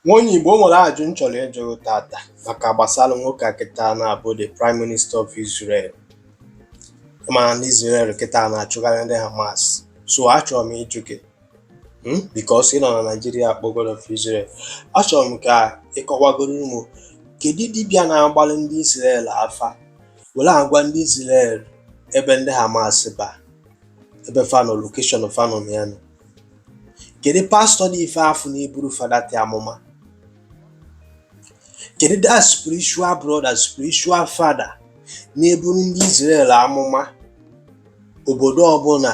nwa onye Igbo o nwere ajụjụ m chọrọ ịjụ tata maka gbasara nwoke a kịta na-abụ the prime minister of Israel mana ndị Israel kịta na-achụgharị ndị Hamas so achọrọ m ịjụ gị hmm, because ị nọ na Naịjirịa kpọ God of Israel achọrọ m ka ị kọwagoro mụ kedu dibịa na-agbalị ndị Israel afa were agwa ndị Israel ebe ndị Hamas ba ebe fa nọ location fa nọ ya nọ kedu pastor na ife afụ na-eburu fa that amụma kedu that spiritual brother spiritual father na-eburu ndị Israel amụma obodo ọbụla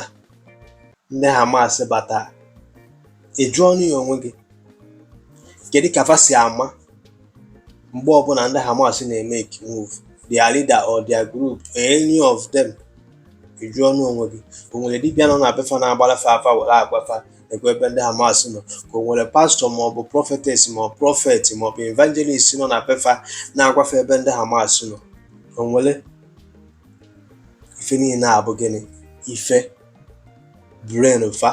ndị Hamas bata ị jụọnụ ya onwe gị kedu ka fa si ama mgbe ọbụla ndị Hamas na-emake move their leader or their group or any of them ị jụọnụ onwe gị ka o nwere dibịa nọ na be fa na-agbalụ fa afa were agwa fa kwa ebe ndị hamas nọ ka o nwere pastor maọbụ prophetess ma prophet maọbụ evangelist nọ na be fa na-agwa fa ebe ndị hamas nọ o nwere ife niile a bụ gịnị ife brain fa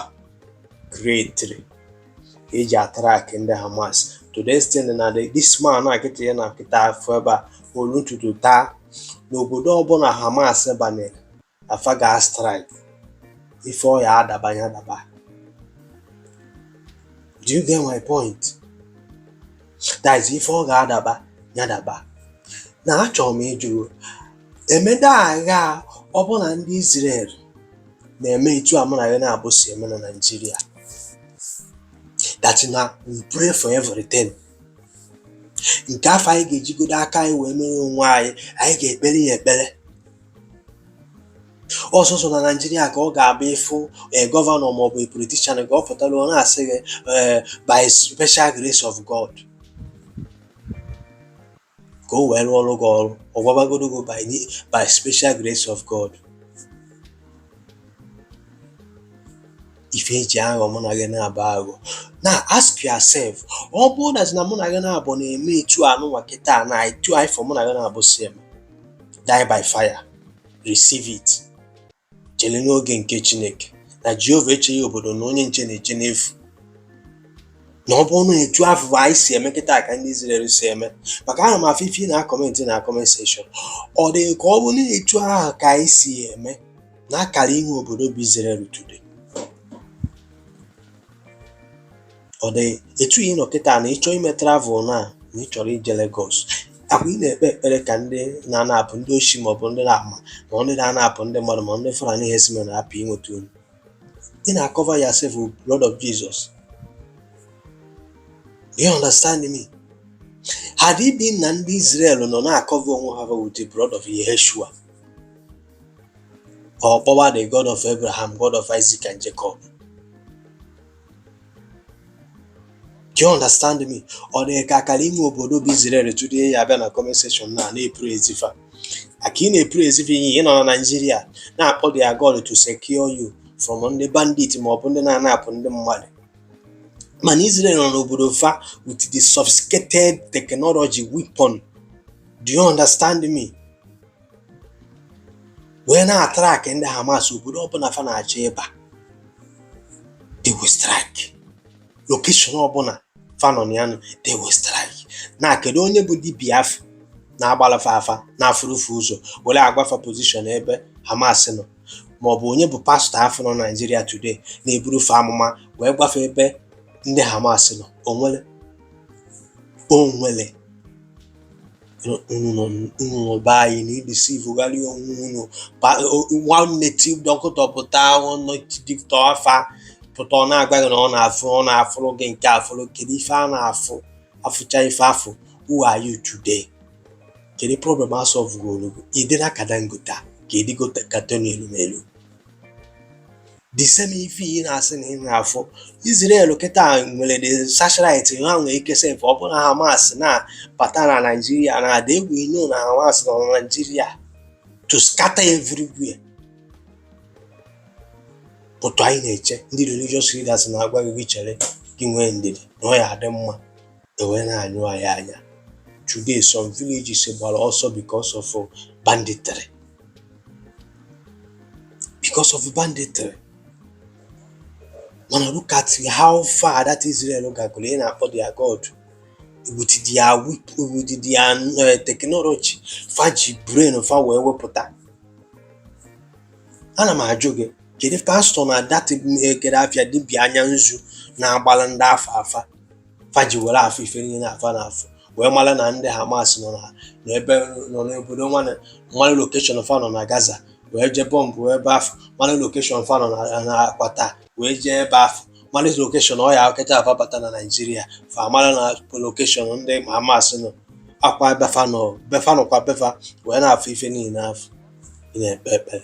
create-iri e ji a-track ndị Hamas to the extent na this man na akịta ya na akịta afọ ebe a olu n'ụtụtụ taa na obodo ọbụla Hamas banyere fa ga-a-strike ife ọ ya-adaba ya daba do you get my point that is ife ọ ga-adaba ya daba now achọrọ m ịjụ Emeda agha ọ bụrụ na ndị Izrel na-eme etu a mụ na gị n'abụọ si eme na Naịjirịa that na we pray for everything nke afụ anyị ga-ejigodo aka anyị wee mere onwe anyị anyị ga-ekpere ya ekpere ọ sọsọ na Naịjirịa ka ọ ga-abụ ị fụ eh, gọvanọ maọbụ politician ka ọ pụtara ọ na-asị gị eh, by special grace of God ka o wee rụọrọ gị ọrụ ọ gwabagodo gị by ni- by special grace of God ife eji aghọ mụ na gị n'abụọ aghọ now ask yourself ọ bụrụ na na mụ na gị n'abụọ na-eme etu anụnwa kịta na etu afụ mụ na gị n'abụọ si eme die by fire receive it chere n'oge nke Chineke na Jehova echeghị obodo na onye nche na-eche n'efu na ọ bụrụ na etu afụ anyị si eme kịta ka ndị Izrel si eme maka ana m afụ ife na comment na comment section ọ dị gị ka ọ bụ na etu ahụ ka anyị si eme na a kara inwe obodo bụ Izrel today ọ dị etu ị nọ kịta na ịchọ ime travel na na ị chọrọ ije Lagos ahụ ị na-ekpe ekpere ka ndị na-anapụ ndị oshi maọbụ ndị na-ama ma ndị na-anapụ ndị mmadụ ma ndị Fulani herdsmen hapụ inweta unu ị na-akọva yourself blood of Jesus you understand me had it been na ndị Israel nọ na-akọva onwe ha with the blood of Yehoshua a kpọba the God of Abraham God of Isaac and Jacob Do you understand me? Ọ dị ka a kara ime obodo bụ Izrel today ị abịa na comment section na na-epraise fa ka ị na-epraise fa ihe ị nọ na Naịjirịa na-akpọ their God to secure you from ndị bandit ma ọ bụ ndị na-anapụ ndị mmadụ mana Israel nọ n'obodo fa with the sophisticated technology weapon do you understand me wee na-atrakị ndị Hamas obodo ọbụla fa na-achọ ịba they will strike location ọbụla fa nọ na ya nọ, they will strike na kedu onye bụ dibia afụ na-agbalụ fa afa na-afụrụ fa ụzọ were agwa fa pozishọn ebe Hamas nọ ma ọ bụ onye bụ pastọ afụ nọ Naijiria today na-eburu fa amụma wee gwa fa ebe ndị Hamas nọ o nwere o nwere unu nọ unu nọ be anyị na-edisivụgharị onwe unu Pa- onye native doctor pụta onye dibia afa pụta ọ na-agwa gị na ọ na-afụ ọ na-afụrụ gị nke a fụrụ kedu ife a na-afụ afụcha ife afụ who are you today kedu problem a sọvụgoro gị ị dịna ka Dangote a ka ị dịgo ka Tony Elumelu The same ife ị na-asị na ị na-afụ Israel kịta nwere the satellite ha nwee ike sef ọ bụrụ na Hamas na-bata na Naịjirịa na ada egwu ino na Hamas nọ na Naịjirịa to scatter everywhere otu anyị na-eche ndị religious leaders na-agwa gị gị chere gị nwee ndidi na ọ ya-adị mma e wee na-anyụ anyị anya today some villages gbara ọsọ because of banditry because of banditry mana look at how far that Israel gagoro ị na-akpọ their God with their weak with their uh, technology fa ji brain fa wee wepụta ana m ajụ gị kedu pastọ na dat eh, kere afịa dibịa anya nzu na-agbalụ ndị afụ afa fa ji were afụ ife niile na-afụ na-afụ wee mara na ndị Hamas nọ na n'ebe nọ n'obodo wee mara lokeshọn fa nọ na Gaza wee jee bọmbụ wee ebe afụ mara lokeshọn fa nọ na- na Qatar wee jee ebe afụ mara lokeshọn ọ ya ka fa bata na Naịjirịa fa mara na lokeshọn ndị Hamas nọ akwa be fa nọ be fa nọkwa be fa wee na-afụ ife niile afụ ị na-ekpe ekpere